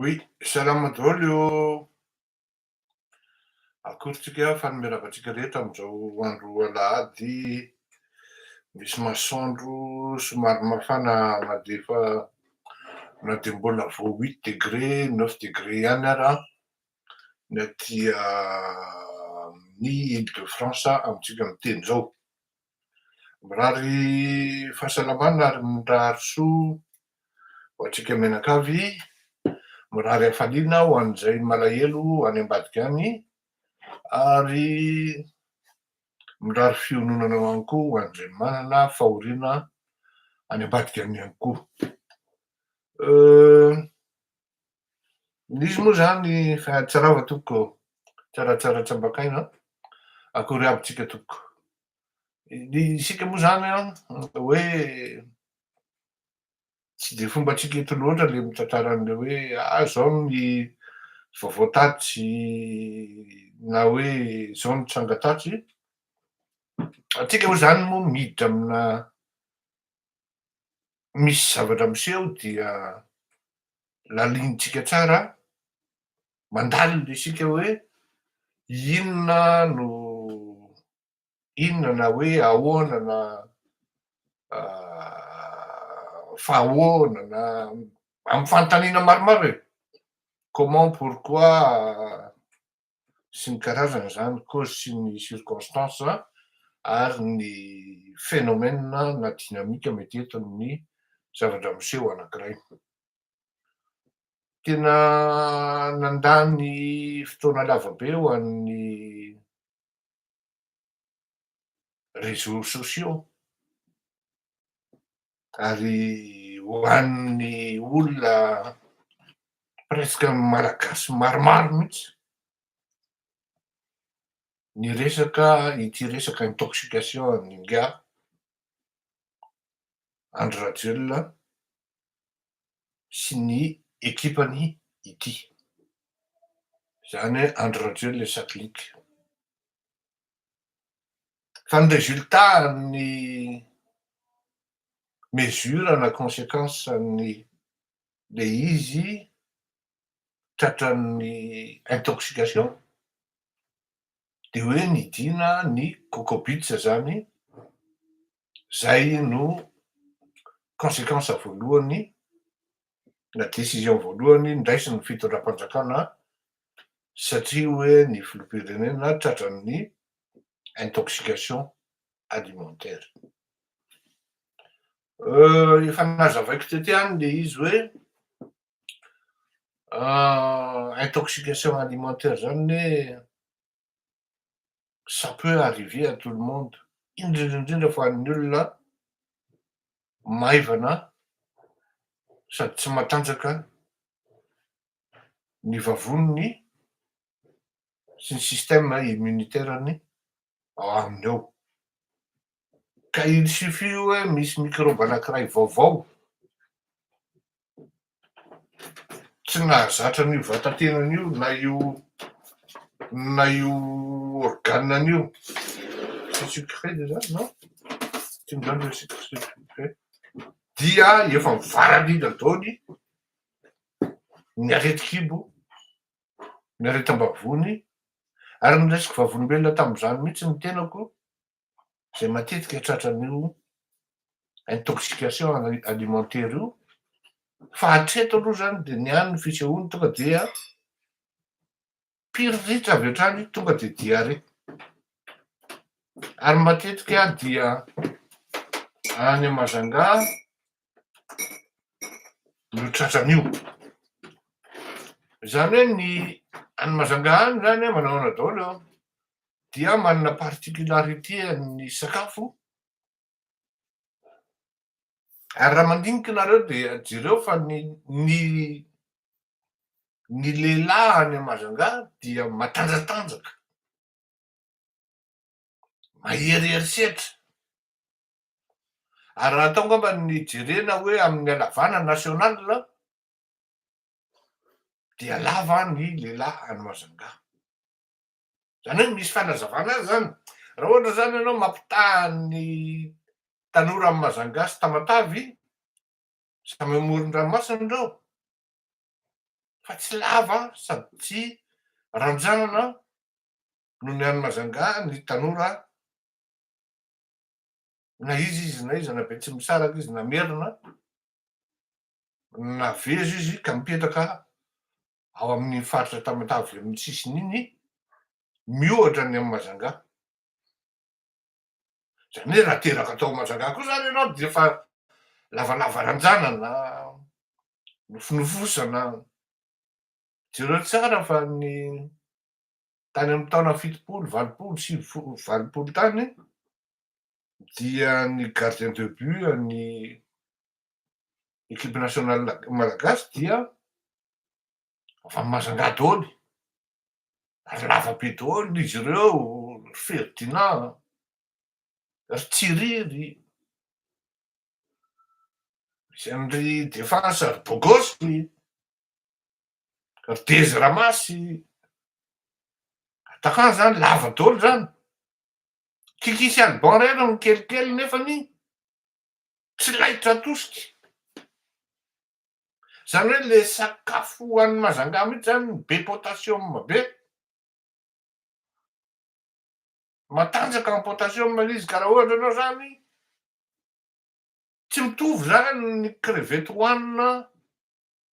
Oui, salama daholo o! Akorintsika fanome lava antsika rehetra amin'izao andro alahady misy masoandro somary mafana na dia efa na dia mbola vao huit degre, neuf degre ihany ara ny aty amin'ny Ile de France amintsika miteny izao. Mirary fahasalamana ary mirary soa ho antsika mianakavy, mirary hafaliana ho an'izay malahelo any ambadika any ary mirary fiononana ihany koa ho an'izay manana fahoriana any ambadika any ihany koa. Euh. Misy moa zany fa tsy rava tompoko tsaratsara tsambakaina an! akory aby tsika tompoko? ny isika moa zany an hoe tsy de fombatsika eto loatra le mitantara anle hoe ah zao ny vaovao tatsy na hoe zao ny tranga tatsy, atsika moa zany moa miditra amina misy zavatra miseho dia lalinintsika tsara mandalina isika hoe inona no inona na hoe ahoana na fa ahoana na amin'ny fanontaniana maromaro e, comment, pourquoi, sy ny karazany izany cause sy ny circonstance ary ny phénomène na dynamique mety entiny ny zavatra miseho anankiray. Tena nandany fotoana lava be ho an'ny. réseaux sociaux ary ho an'ny olona presque malagasy maromaro mihitsy ny resaka ity resaka intoxication an'ny ingahy Andry Rajoelina sy ny ekipany ity, izany hoe Andry Rajoelina et sa clique. Fa ny résultat an'ny mesure na consequence an'ny le izy tratran'ny intoxication de hoe nidina ny coco beats zany zay no consequence voalohany na décision voalohany ndraisin'ny fitondram-panjakana satria hoe ny filoham-pirenena tratran'ny intoxication alimentaire. Efa nazavaiko teto ihany le izy hoe intoxication alimentaire zany hoe ça peut arriver à tout le monde, indrindra indrindra fa ny olona maivana sady tsy matanjaka ny vavoniny sy ny système immunitaire-ny ao aminy ao. Ka il suffit hoe misy microbe anankiray vaovao tsy nahazatra an'io vatan-tenany io na io na io organe-ny io. Dia efa mivaralila daholo ny aretin-kibo, ny aretim-bavony ary ny resiko vavolombelona tamin'izany mihitsy ny tenako. izay matetika tratran'io intoxication alimentaire io fa hatreto aloha izany dia ny ahy ny fisehoany tonga dia piriritra avy hatrany tonga dia diarrhée ary matetika dia any Majunga no tratran'io. Izany hoe ny any Mazanga any izany manahoana daholo eo dia manana particularité ny sakafo ary raha mandinika nareo dia jereo fa ny ny ny lehilahy any Mazanga dia matanjatanjaka, maherihery setra, Ary raha atao angamba ny jerena hoe amin'ny halavana national dia lava ny lehilahy any Majunga. Izany hoe misy fanazavana azy izany. Raha ohatra izany ianao mampitaha ny tanora amin'i Majunga sy Tamatave, samy amoron-dranomasina ireo, fa tsy lava sady tsy ranjanana noho ny any Majunga ny tanora na iza izy na iza, na be tsy misaraka izy, na merina, navezo izy ka mipetraka ao amin'ny faritra Tamatave avy amin'ny sisiny iny, miohatra ny amin'i Majanga. Izany hoe raha teraka tao Majanga koa izany ianao dia efa lavalava ranjanana, nofonofosana. Jereo tsara fa ny tany amin'ny taona fitopolo, valopolo, sivifolo, valopolo tany dia ny gardien de but an'ny equipe nationale malagasy dia avy amin'ny Majunga daholo, ary lava be daholo izy ireo, ry Ferdinand, ry Tsiriry, ry Defasa, ry Bogosy. Ry Dezy Ramasy, atakà zany, lava dolo zany. Kikisy Alban ray aloha ny kelikely nefany tsy laitra atosika. Zany hoe le sakafo ho an'ny Mazangaha mihitsy zany be potassium be. Matanjaka am potassium le izy ka raha ohatra ianao zany tsy mitovy zany ny crevette hohanina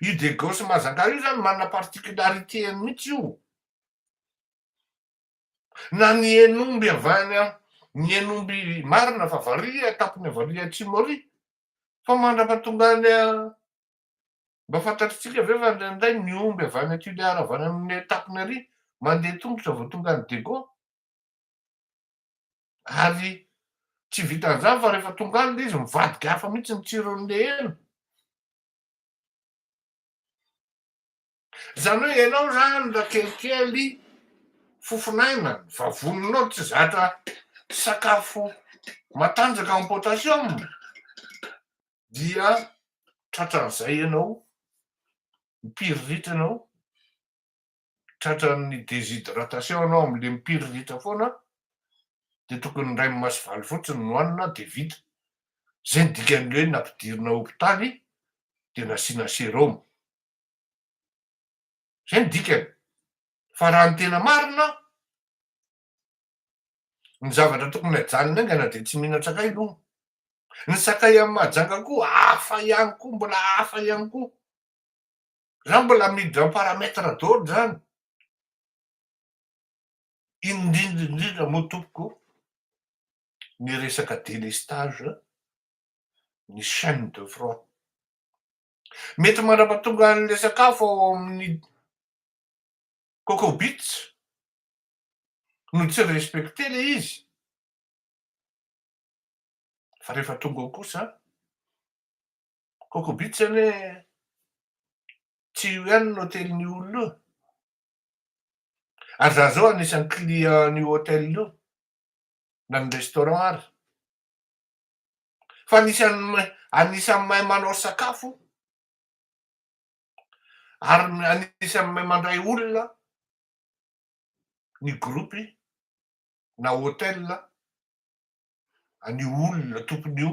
Io Degao sy Mazangaha io zany manana particularité-ny mihitsy io. Na ny Hen'omby avy any a, ny Hen'omby marina fa varihy a, tapony avy ary atsimo ary, fa mandrapa tonga any a, mba fantatritsika ve fa indraindray ny omby avy any Tuléar avy any amin'ny tapony ary mandeha tongotra vao tonga any Degao? ary tsy vitan'izany fa rehefa tonga any ilay izy mivadika hafa mihitsy ny tsiron'ilay hena. Izany hoe ianao izany raha kelikely fofon'aina, vavoninao tsy zatra sakafo matanjaka amin'ny potassium dia tratran'izay ianao, mipiriritra ianao, tratran'ny déshydratation ianao amin'ny lempiry ritra foana dia tokony indray mimasivalo fotsiny no hanina dia vita. Izay no dikan'ny hoe nampidirina hopitaly dia nasiana sérum. Izay no dikany. Fa raha ny tena marina, ny zavatra tokony hajanony aingana dia tsy mihinan tsakay no. Ny sakay amin'ny mahajanga koa hafa ihany koa, mbola hafa ihany koa. Zany mbola miditra amin'ny paramètre daholo zany. Indrindra indrindra moa tompoko ny resaka délestage ny chaine de froid. Mety mandrapatonga an'ilay sakafo ao amin'ny cocobits no tsy respecté ilay izy fa rehefa tonga ao kosa Coco Beach zany hoe tsy io ihany ny hotelin'io olona io. Ary za zao anisan'ny client an'io hotel io na ny restaurant ary. Fa anisan'ny anisan'ny mahay manao sakafo ary anisan'ny mahay mandray olona ny groupe na hotel an'io olona tompon'io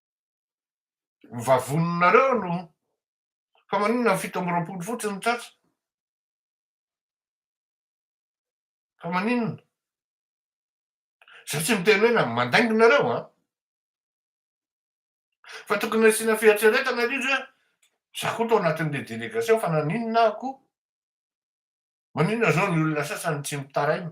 Ny vavoninareo no Fa maninona ny fito amby roapolo fotsiny no tratra? Fa maninona? Zay tsy miteny hoe na mandainga nareo an! Fa tokony asiana fieritreretana ry izy hoe za koa tao anatin'le delegation fa naninona aho koa? Maninona zao ny olona sasany tsy mitaraina?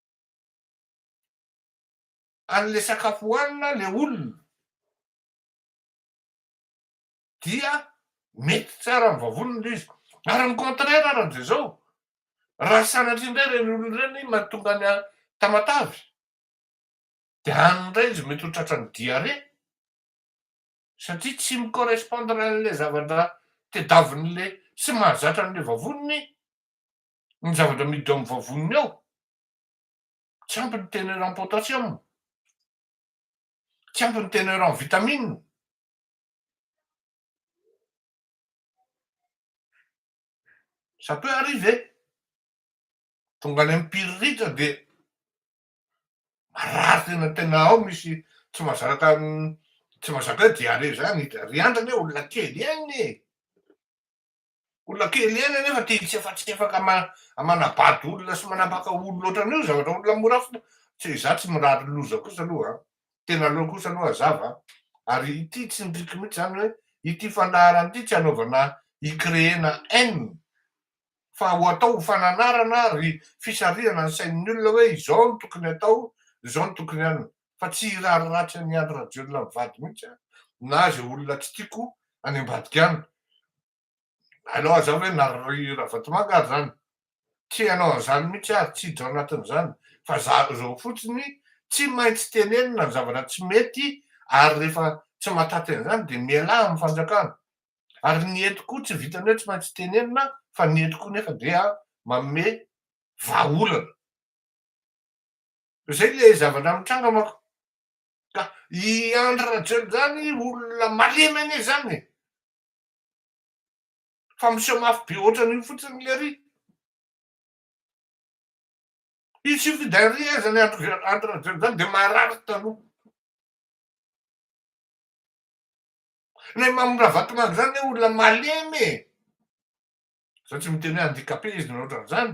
anle sakafo hohanina le olona dia mety tsara amin'ny vavony ilay izy ary ny contraire ary amin'izay zao raha sanatria indray ireny olona ireny mahatonga ny tamatavy dia any indray izy mety ho tratran'ny diarrhée satria tsy mi-correspondre an'ilay zavatra tedaviny le sy mahazatra an'ilay vavoniny ny zavatra miditra ao amin'ny vavoniny ao. Tsy ampy ny tena eran potassium. Tsy ampy ny tena eran vitamine. Ça peut arriver. Tonga any amin'ny piriritra dia marary tena tena ao misy tsy mazaka tsy mazaka hoe diarrhée zany. Ry andrana e olona kely ihany e. Olona kely ihany anefa tia hitsefatsefaka manabado olona sy manambaka olona ohatran'io ny zavatra olona mora fo tsy za tsy mirary loza kosa aloha a! tena aleo kosa aloha hazava a! ary ity tsy ny trick mihitsy zany hoe ity fandaharana ity tsy anaovana hi-creer-na haine fa ho atao ho fananarana ary fisarihana ny sain'ny olona hoe izao no tokony atao izao no tokony anona fa tsy hirary ratsy an'i Andry Rajoelina mivady mihitsy aho na izay olona tsy tiako any ambadika any. Aleo aza hoe na ry Ravatomanga ary izany. Tsy hanao an'izany mihitsy aho ary tsy hiditra ao anatin'izany fa zao fotsiny tsy maintsy tenenina ny zavatra tsy mety ary rehefa tsy mahataty an'izany dia mialà amin'ny fanjakana. Ary ny eto koa tsy vitan'ny hoe tsy maintsy tenenina fa ny eto koa nefa dia manome vahaolana. Zay ilay zavatra mitranga manko. Ka i Andry Rajoelina zany olona malemy anie zany e. Fa miseho mafy be otran'io fotsiny ilay ry. Il suffit d'un rien zany Andry Rajoelina zany de marary taloha. Ilay Mamy Ravatomanga zany anie olona malemy e. Za tsy miteny hoe handicapé izy na otran'izany.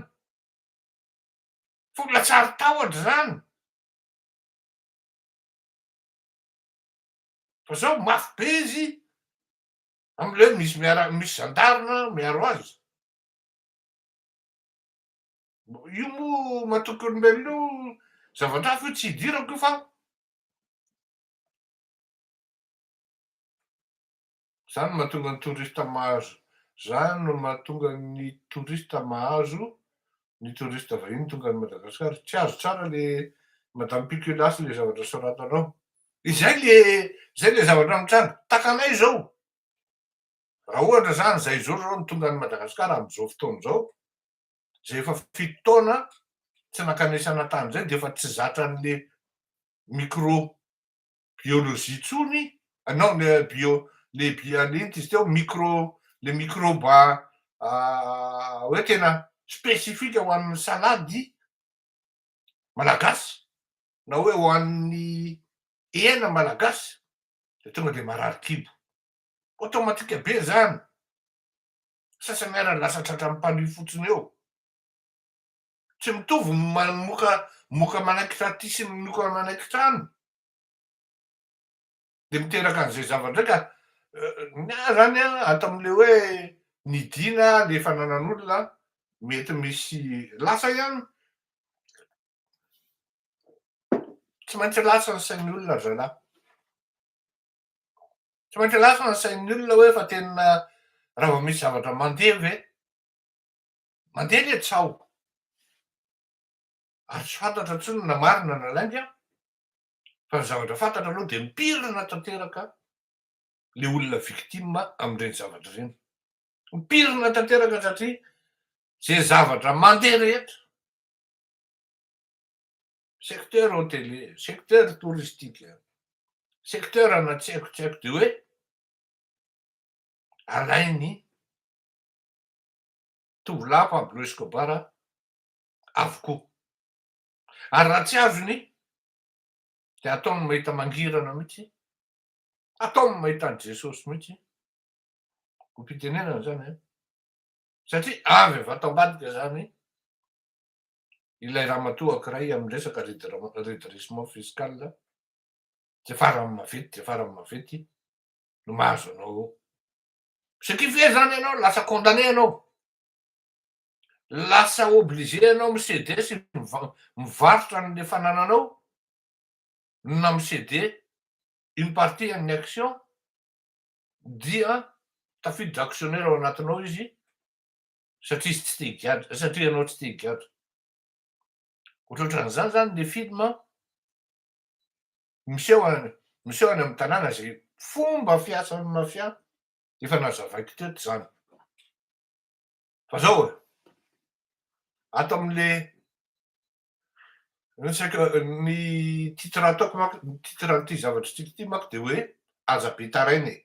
Tolona tsary tahotra izany. Fa zao mafy be izy amle hoe misy miara misy gendarme miaro azy. Io moa matoky olombelona io zavatra hafa io tsy idirako io fa. Zany no mahatonga ny touriste mahazo Zany no mahatonga ny touriste mahazo ny touriste vahiny tonga any Madagascar tsy azo tsara le madame pikilasy le zavatra soratanao Izay le Zay le zavatra mitranga takanay zao raha ohatra zany zay zao zao no tonga any Madagascar am zao fotoana zao zay efa fito taona tsy nankanesana tany zay de efa tsy zatra anle micro biologie tsony non le bio le inty izy teo micro le microba hoe tena spécifique ho an'ny salady malagasy na hoe ho an'ny hena malagasy de tonga de marary kibo automatique be zany sasany ara lasa tratran'ny palu fotsiny eo Tsy mitovy ny mamoka moka manaiky taty sy ny moka manaiky trano. Dia miteraka an'izay zava-drey ka ny ahy izany an, ato amin'ilay hoe ny dia na ilay fananan'olona an, mety misy lasa ihany. Tsy maintsy lasa ny sain'ny olona ry zalahy. Tsy maintsy lasa ny sain'ny olona hoe fa tena raha vao misy zavatra mandeha ve Mandeha ilay tsaho. Ary tsy fantatra intsony na marina na lainga fa ny zavatra fantatra aloha dia mipirina tanteraka ilay olona victime amin'ireny zavatra ireny. Mipirina tanteraka satria izay zavatra mandeha rehetra, secteur hôtelier, secteur touristique, secteur ana tsy haiko tsy haiko dia hoe alain'ny tovolahy Pablo Escobar avokoa. Ary raha tsy azony dia ataony mahita mangirana mihitsy, ataony mahita an'i Jesosy mihitsy, hopitenenana izany an, satria avy avy ato ambadika izany ilay ramatoa ankiray amin'ny resaka redressement fiscal dia farany mavety dia farany mavety no mahazo anao Ce qui fait zany ianao lasa condamné ianao, lasa obligé ianao mi ceder sy mivarotra an'le fanananao na mi ceder une partie an'ny action dia tafiditra actionnaire ao anatinao izy satria izy tsy te higadra, satria ianao tsy te higadra. Ohatrohatran'izany zany le film an. Miseho any miseho any amin'ny tanàna izay fomba fiasan'ny mafia efa nazavaiko teto izany. Fa zao e, ato amin'le resaka ny titre ataoko manko ny titre an'ity zavatra tiako ity manko dia hoe aza be taraina e.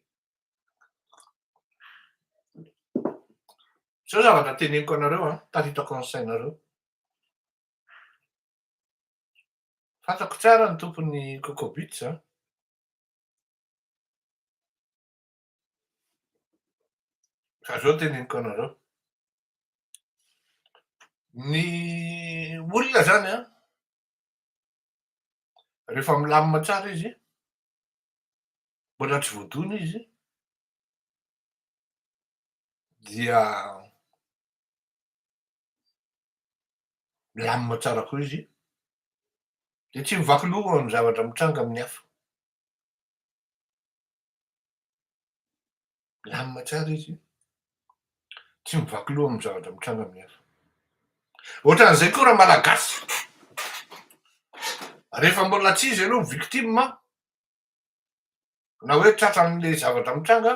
Zao zavatra teneniko anareo an, tafitako an'ny sainareo. Fantako tsara ny tompon'ny Coco Boots an! Ka zao teneniko anareo. Ny olona zany an, rehefa milamina tsara izy, mbola tsy voadona izy, dia milamina tsara koa izy, dia tsy mivaky loha amin'ny zavatra mitranga amin'ny hafa. Milamina tsara izy, tsy mivaky loha amin'ny zavatra mitranga amin'ny hafa. Ohatran'izay koa raha malagasy, rehefa mbola tsy izy aloha victime, na hoe tratran'ilay zavatra mitranga,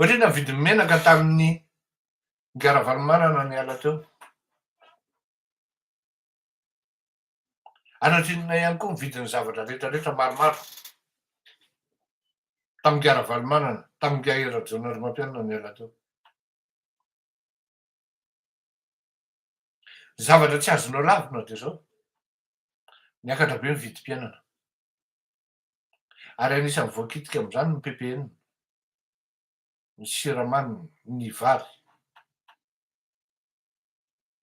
Ohatry ny navidin'ny menaka tamin'ny Guy Ravalomanana niala teo. Anatrinona ihany koa ny vidin'ny zavatra rehetrarehetra maromaro tamin'ny Guy Ravalomanana, tamin'ny Guy Rajaonarimampianina niala teo. Zavatra tsy azonao lavina dia izao, niakatra be ny vidim-piainana. ary anisan'ny voakitika amin'izany ny ppn, ny siramamy, ny vary,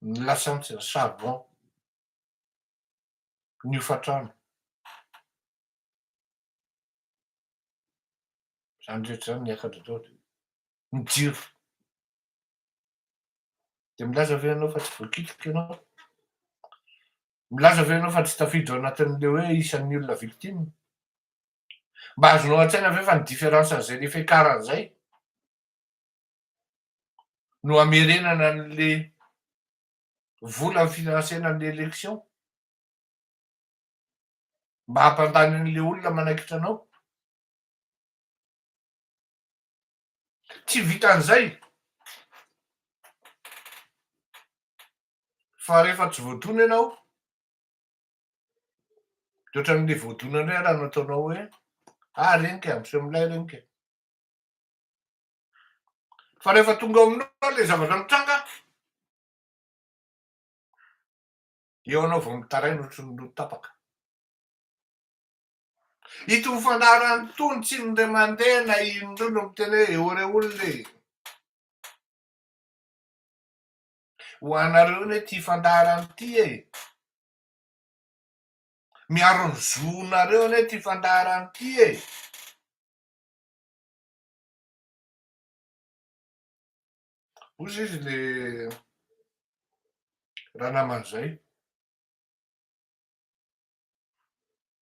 ny lasantsy, ny charbon, ny hofantrano. Izany rehetra izany niakatra tao dia ny jiro. Dia milaza ve ianao fa tsy voakitika ianao? Milaza ve ianao fa tsy tafiditra ao anatin'ilay hoe isan'ny olona victime? Mba azonao an-tsaina ve fa ny différence an'izay le fiakarany izay no amerenana an'le vola finansena an'le élection? Mba hampandany an'le olona manaikitra anao? Tsy vitan'izay. Fa rehefa tsy voadona ianao, dia ohatran'ilay voadona indray raha nataonao hoe ah reny ka, miseho milay reny ka. Fa rehefa tonga ao aminao ilay zavatra mitranga, eo anao vao mitaraina ohatry ny loto tapaka. Itony fandaharana itony tsy indray mandeha na indroa no miteny hoe eoreola e. Ho anareo ne tia fandaharana ity e! Miaro ny zonareo ne ity fandaharana ity e! Ozy izy le ranamana zay.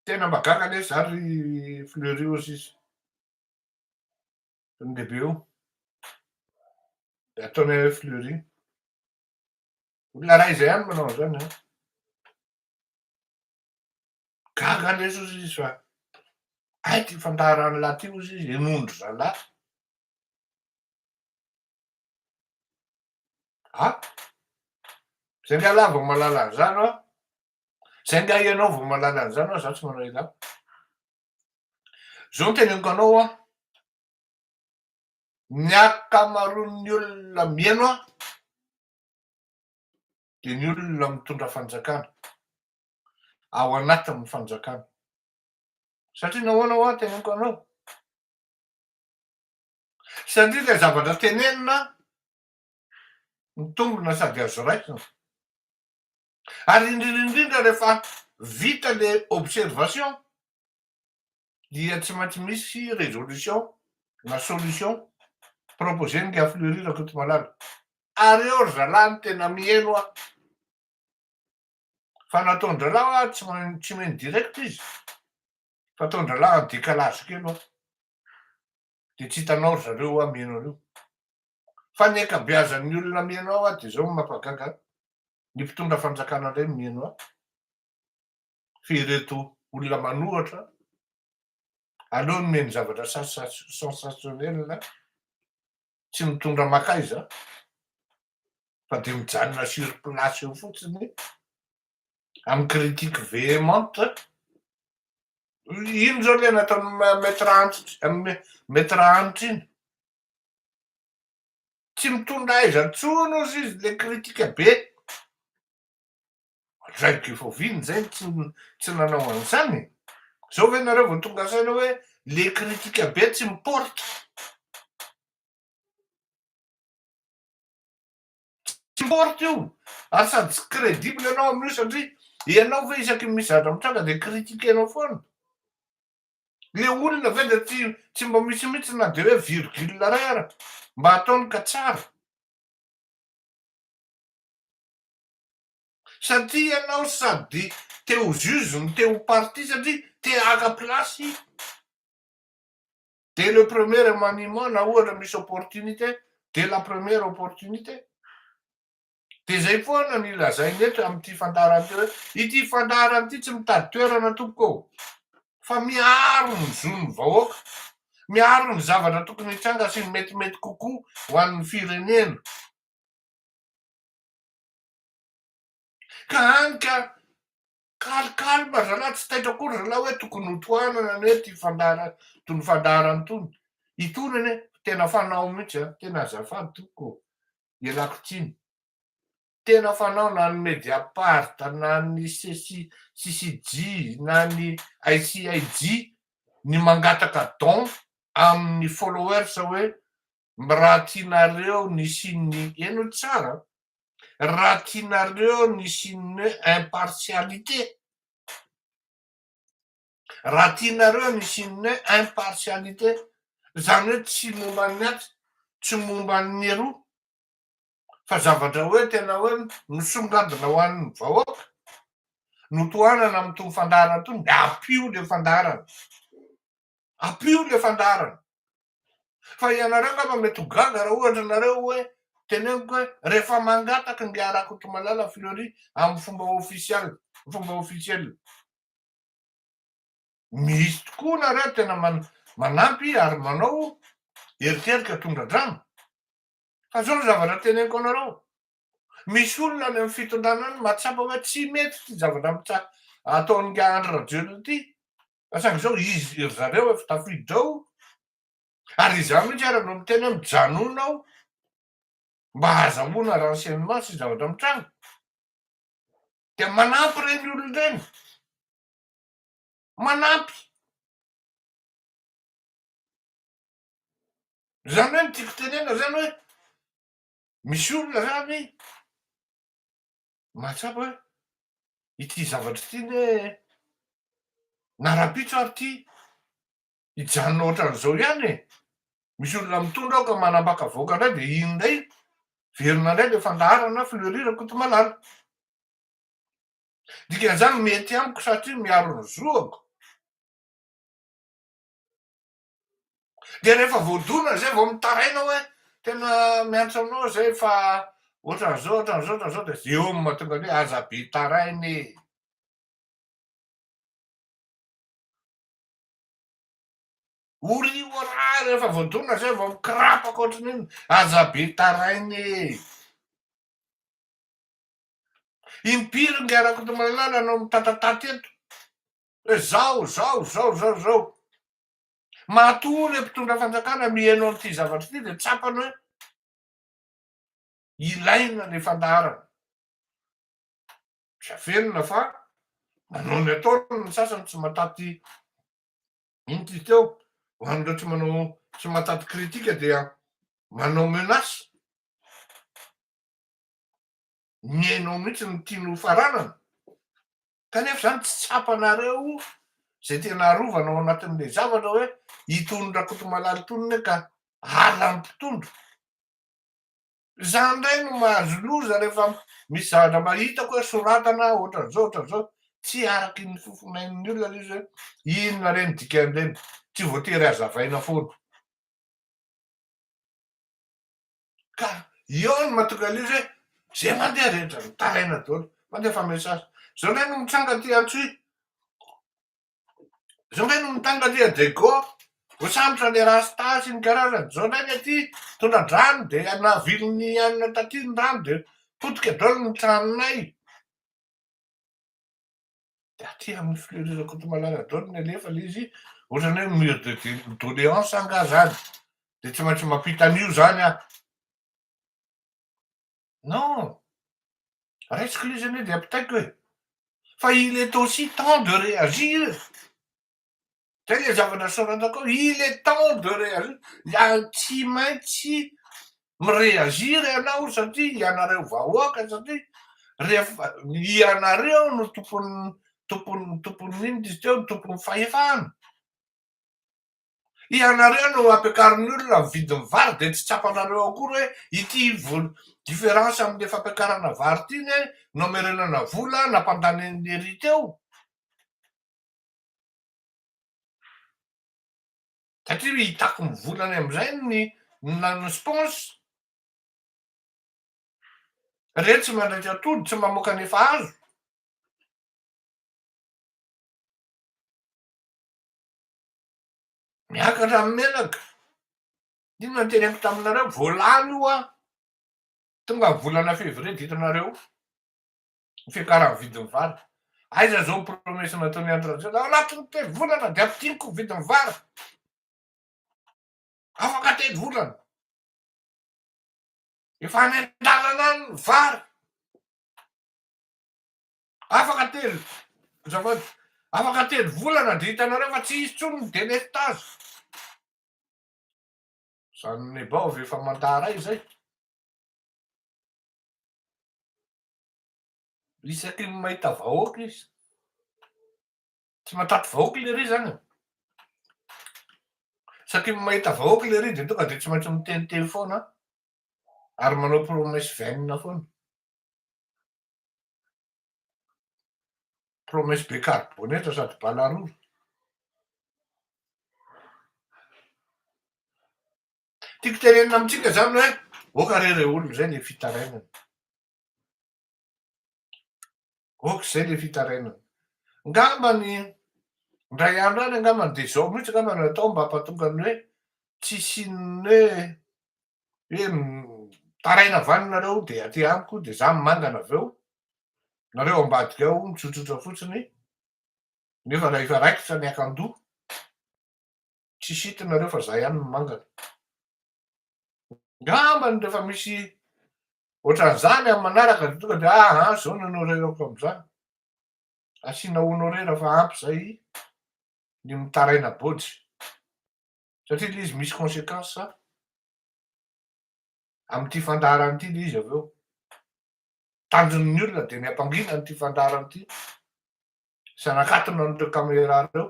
Tena mahagaga nefa za ry Fleury ozy izy. Tonga dia be o. Dia ataonay hoe fleury. Olona iray izay ihany manao an'izany an. Gaga lesy ozy izy fa ay ty fandaharan'lah ty ozy izy henondry zalah. A? Zay nga lah vao malala an'izany an. Zay nga ianao vao malala an'izany an, za tsy manao ilay. Zao no teneniko anao an, ny ankamaroan'ny olona mihaino an, dia ny olona mitondra fanjakana, ao anatin'ny fanjakana. Satria nahoana hoa teneniko anao? Satria ilay zavatra tenenina mitombina sady azo raisina. ary indrindra indrindra rehefa vita le observation dia tsy maintsy misy resolution na solution proposer ny Gafleuri Rakotomalala ary eo ry zalahy no tena mieno a fa nataon-dralahy a tsy main- tsy meno direct izy fa ataon-dralahy en décalage kely oa dia tsy hitanao ry zareo oa mieno an'io fa ny ankabeazan'ny olona mihaino ahy hoa dia izao no mampagaga an, ny mpitondra fanjakana indray no mihaino ahy fa ireto olona manohatra aleo nomeny zavatra sensationnel tsy mitondra makaiza fa dia mijanona sur place eo fotsiny amin'ny critique véhémente iny izao ilay nataon'ny maître antitra maître antitra iny Tsy mitondra aiza intsony ozy izy le kritika be. Ohatr'izay Gifoviny zay tsy tsy nanao an'izany e. Zao ve nareo vao tonga saina hoe le kritika be tsy miporitra. Tsy miporitra io ary sady tsy credible ianao amin'io satria ianao ve isaky ny mizatra mitranga de kritike-nao foana. Le olona ve de tsy tsy mba misy mitsy na de hoe virgule iray ara mba ataony ka tsara. Satria ianao sady te ho juge no te ho partie satria te haka place i de le premier remaniement na ohatra misy opportunité de la première opportunité. Dia izay foana ny lazainy eto amin'ity fandaharana ity hoe, ity fandaharana ity tsy mitady toerana tompoko ô! fa miaro ny zon'ny vahoaka, miaro ny zavatra tokony hitranga sy ny metimety kokoa ho an'ny firenena. Ka hany ka Calme calme zalahy tsy taitra akory zalahy hoe tokony ho tohanana anie ity fandaharan tony fandaharana tony itony anie tena fanao mihitsy a tena azafady tompoko ô ialako tsiny tena fanao na ny mediapart na ny ceci ccj na ny ICIJ ny mangataka don amin'ny followers hoe Raha tianareo ny signe eno tsara, raha tianareo ny signe impartialité, raha tianareo ny signe impartialité, izany hoe tsy momba ny atsy, tsy momba ny eroa, fa zavatra hoe tena hoe misongadina ho an'ny vahoaka, notohanana amin'itony fandaharana itony, dia ampio ilay fandaharana, ampio ilay fandaharana. Fa ianareo angamba mety ho gaga raha ohatra nareo hoe teneniko hoe rehefa mangataka ny Dia Rakotomalala Fleury amin'ny fomba ofisialy, fomba ofisiela, misy tokoa nareo tena manampy ary manao eritreritra tondra-drano. Fa zao ny zavatra teneniko anareo, misy olona any amin'ny fitondrana any mahatsapa hoe tsy mety ity zavatra ataon'ingahy Andry Rajoelina ity, Fa saingy izao izy ry zareo efa tafiditra ao ary izaho mihitsy ary no miteny hoe mijanona aho mba hahazahoana renseignement sy zavatra mitranga. Dia manampy ireny olona ireny. Manampy. Izany hoe ny tiako tenena izany hoe misy olona izany Mahatsapa ity zavatra ity ny hoe na rahampitso ary ity hijanona ohatran'izao ihany e! Misy olona mitondra aoka manambaka vahoaka indray dia iny indray velona indray ilay fandaharana Fleury Rakotomalala. Dikan'izany mety amiko satria miaro ny zoako. dia rehefa voadona zay vao mitaraina hoe tena miantso anao zay fa ohatran'izao ohatran'izao ohatran'izao dia zay eo no mahatonga ny hoe aza be taraina e ory orà rehefa voadona zay vao mikrapaka ohatran'iny aza be taraina e impiry ngy arakotomalala anao mitatatata eto hoe zao, zao, zao, zao, zao. Matoa ilay mpitondra fanjakana miheno an'ity zavatra ity dia tsapany hoe ilaina ilay fandaharana. Tsy afenina fa manao ny ataony ny sasany tsy mataty inty teo. Ho an'ireo tsy manao tsy mataty kritika dia manao menace. Mihaino mihitsy ny tiany hofaranana. Kanefa izany tsy tsapanareo izay tena arovana ao anatin'ilay zavatra hoe itony Rakotomalaly itony anie ka ala ny mpitondra. Izaho indray no mahazo loza rehefa misy zavatra mba hitako hoe soratana ohatran'izao ohatran'izao tsy araky ny fofonain'ny olona ilay izy hoe inona re ny dikan'ireny, tsy voatery hazavaina foana. Ka eo no mahatonga an'izy hoe izay mandeha rehetra ry taraina daholo, mandefa message. Izao indray no mitranga aty Antsohihy, izao indray no mitranga aty Adego, voasambotra ny rasta sy ny karazany, izao indray ny aty tondra-drano dia navilin'ny anona taty ny rano dia potika daholo ny tranonay. Dia aty amin'ny Fleury Rakotomalala daholo no alefa ilay izy, ohatran'ny hoe mur de doléance angaha izany, dia tsy maintsy mampita an'io izany aho. Non, raisiko ilay izy anie dia ampitaiko e! Fa il est aussi temps de réagir! Zay le zava-nasaorantako hoe il est temps de réagir, ary tsy maintsy mi-réagir ianao satria ianareo vahoaka satria rehefa ianareo no tompon'ny tompon'ny tompon'ny inona izy teo, tompon'ny fahefana. Ianareo no ampiakarin'ny olona ny vidin'ny vary dia tsy tsapanareo akory hoe ity vola différence amin'le fampiakarana vary ity anie nomerenana vola nampandanian'ny ry teo. Satria hitako mivola any amin'izay ny nanao sponsor. Ireny tsy mandraitra atody, tsy mamoaka ny efa azo. Miakatra amin'ny menaka. Inona no teneniko taminareo, voalany hoa tonga ny volana février dikanareo. ny fiakaran'ny vidin'ny vary. Aiza izao ny promesse nataon'i Andry Rajoelina, ao anatin'ny telo volana dia ampidigniko ny vidin'ny vary. Afaka telo volana. Efa any an-dalana any ny vary. Afaka telo, azafady, afaka telo volana dia hitanareo fa tsy hisy intsony ny délestage. Izany Nebao avy efa mandaha ray izay. Isaky ny mahita vahoaka izy. Tsy matatry vahoaka lery izany e. Isaky ny mahita vahoaka lery dia tonga dia tsy maintsy miteniteny foana ary manao promesse vaine foana. Promesse be carbonate sady bala rora. Tiako tenenina amintsika zany hoe ok re re olona zay le fitarainana. Ok zay le fitarainana. Ngamba ny ndray andro any angamba ny de zao mihitsy ngamba no atao mba ampatonga ny hoe tsisy inona hoe hoe taraina avy any nareo de aty amiko de za mangana avy eo nareo ambadika ao mitsotsotra fotsiny nefa raha efa raikitra ny akandoha. Tsy sitony nareo fa za ihany no mangana. Ngambany rehefa misy ohatran'izany amin'ny manaraka dia tonga dia aha zao no honorerako amin'izany. Asiana honorera fa ampy zay ny mitaraina bojy. Satria ilay izy misy conséquence amin'ity fandaharana ity ilay izy avy eo. Tanjon'ny olona dia ny hampangina an'ity fandaharana ity sy hanakatona an'ireo caméra ireo.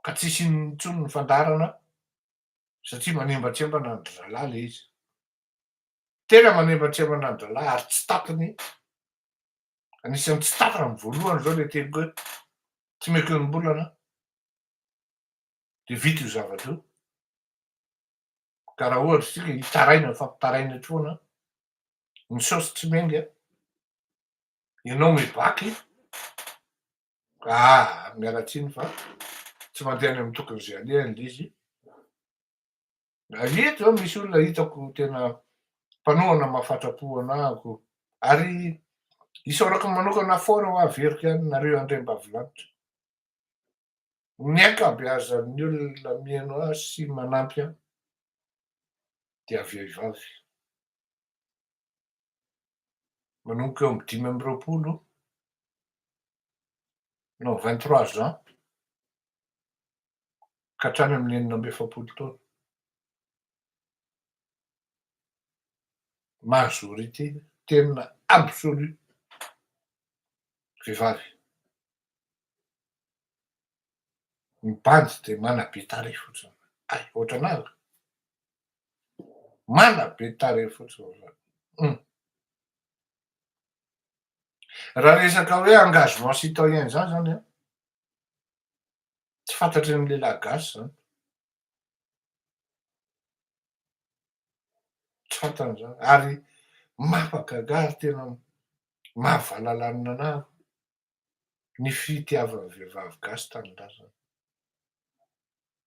ka tsy hisy inona intsony ny fandaharana satria manembantsembana ny dralahy ilay izy. Tena manembantsembana ny dralahy ary tsy tapiny, anisan'ny tsy tapiny amin'ny voalohany izao ilay teny hoe tsy meko enim-bolana dia vita io zavatra io. Ka raha ohatra isika hitaraina fampitaraina etsy foana, ny saosy tsy menga, ianao mibaky, Ah! miala tsiny fa tsy mandeha any amin'ny tokin'izay alehany ilay izy. Ary eto zao misy olona hitako tena mpanohana mahafatra-po anahako. Ary isaorako manokana fort ho averiko ihany nareo Andriambavilanitra. Ny ankabeazan'ny olona mihaino ahy sy manampy ahy dia vehivavy. manomboka eo amin'ny dimy amby roapolo non vingt trois ans ka hatrany amin'ny enina amby efapolo taona. Majorité tena absolue vehivavy. Ny bandy dia manabe tarehy fotsiny. Hay, ohatranareo. Mana be tarehy fotsiny zany hum. Raha resaka hoe engagement citoyen zany zany an, tsy fantatry ny lehilahy gasy zany, tsy fantany zany ary mampagaga ary tena mahavalalanina anah ny fitiavan'ny vehivavy gasy tanindrazana.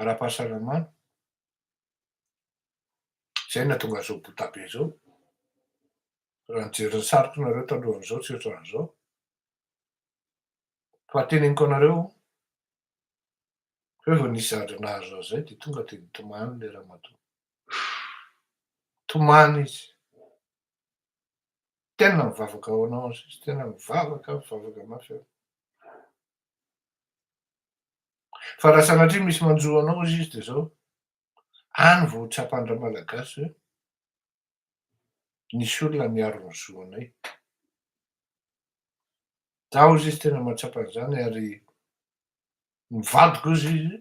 ara-pahasalamana, izay no nahatonga an'izao bota be izao, raha nijery ny sariko nareo talohan'izao tsy ohatran'izao, fa teneniko anareo hoe vao nisy zavatra nahazo azy izay dia tonga dia nitomany ilay ramatoa, nitomany izy, tena mivavaka ho anao hono sisa, tena mivavaka, mivavaka mafy aho. Fa raha sanatria misy manjo anao hozy izy dia zao, any vao ho tsapan-dRamalagasy hoe nisy olona niaro ny zo anay. Za hozy izy tena mahatsapa an'izany ary ny vadiko hozy izy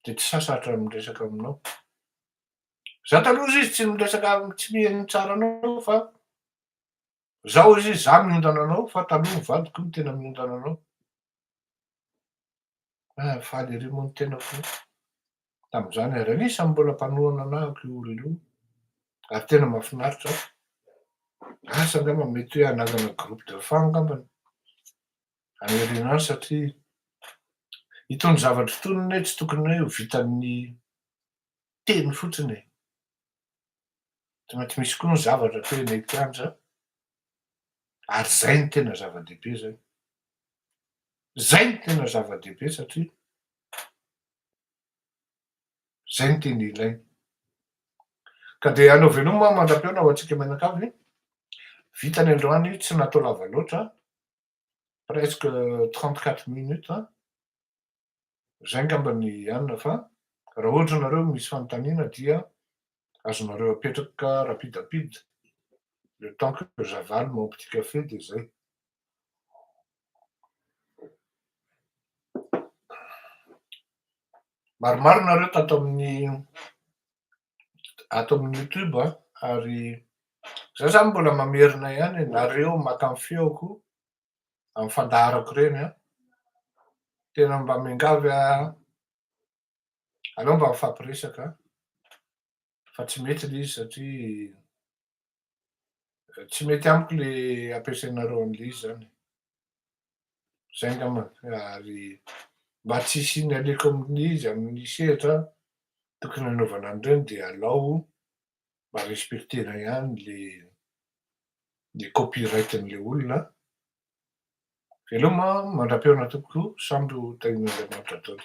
dia tsy sasatra ny miresaka aminao. Za taloha hozy izy tsy miresaka tsy miheno tsara anao fa Izaho hoy izy, izaho miondana anao, fa taloha ny vadiko no tena miondana anao. Ah, faly ery moa ny tenako tamin'izany, ary anisan'ny mbola mpanohana anahako io olona io, ary tena mahafinaritra ahy. Asa angamba mety hoe hanangana groupe de fan angamba ny any aoriana any, satria itony zavatra itony anie tsy tokony hoe ho vitan'ny teny fotsiny e! Tsy maintsy misy koa ny zavatra atao eny an-kianja ary izay no tena zava-dehibe izany. Izay no tena zava-dehibe satria izay no tena ilaina. Ka dia anao veloma aho mandra-pihaona ho antsika mianakavy. Vita ny androany, tsy natao lava loatra, presque trente quatre minutes. Izay angamba ny anona fa raha ohatra ianareo misy fanontaniana dia azonareo apetraka rapide rapide le temps que j'avale mon petit café dia izay. Maromaro nareo tato amin'ny ato amin'ny YouTube a ary za zany mbola mamerina ihany nareo maka ny feoko amin'ny fandaharako ireny an, tena mba miangavy an, aleo mba mifampiresaka an, fa tsy mety ilay izy satria tsy mety amiko le ampiasainareo an'ilay izy zany zay ngamba ary mba tsy hisian'ny aleko amin'ilay izy amin'ny sehatra tokony hanaovana an'ireny dia alao mba respecter-na ihany le le copyright-n'ilay olona an! Veloma an! Mandra-pihaona tompoko, samy ho tahian'Andriamanitra daholo.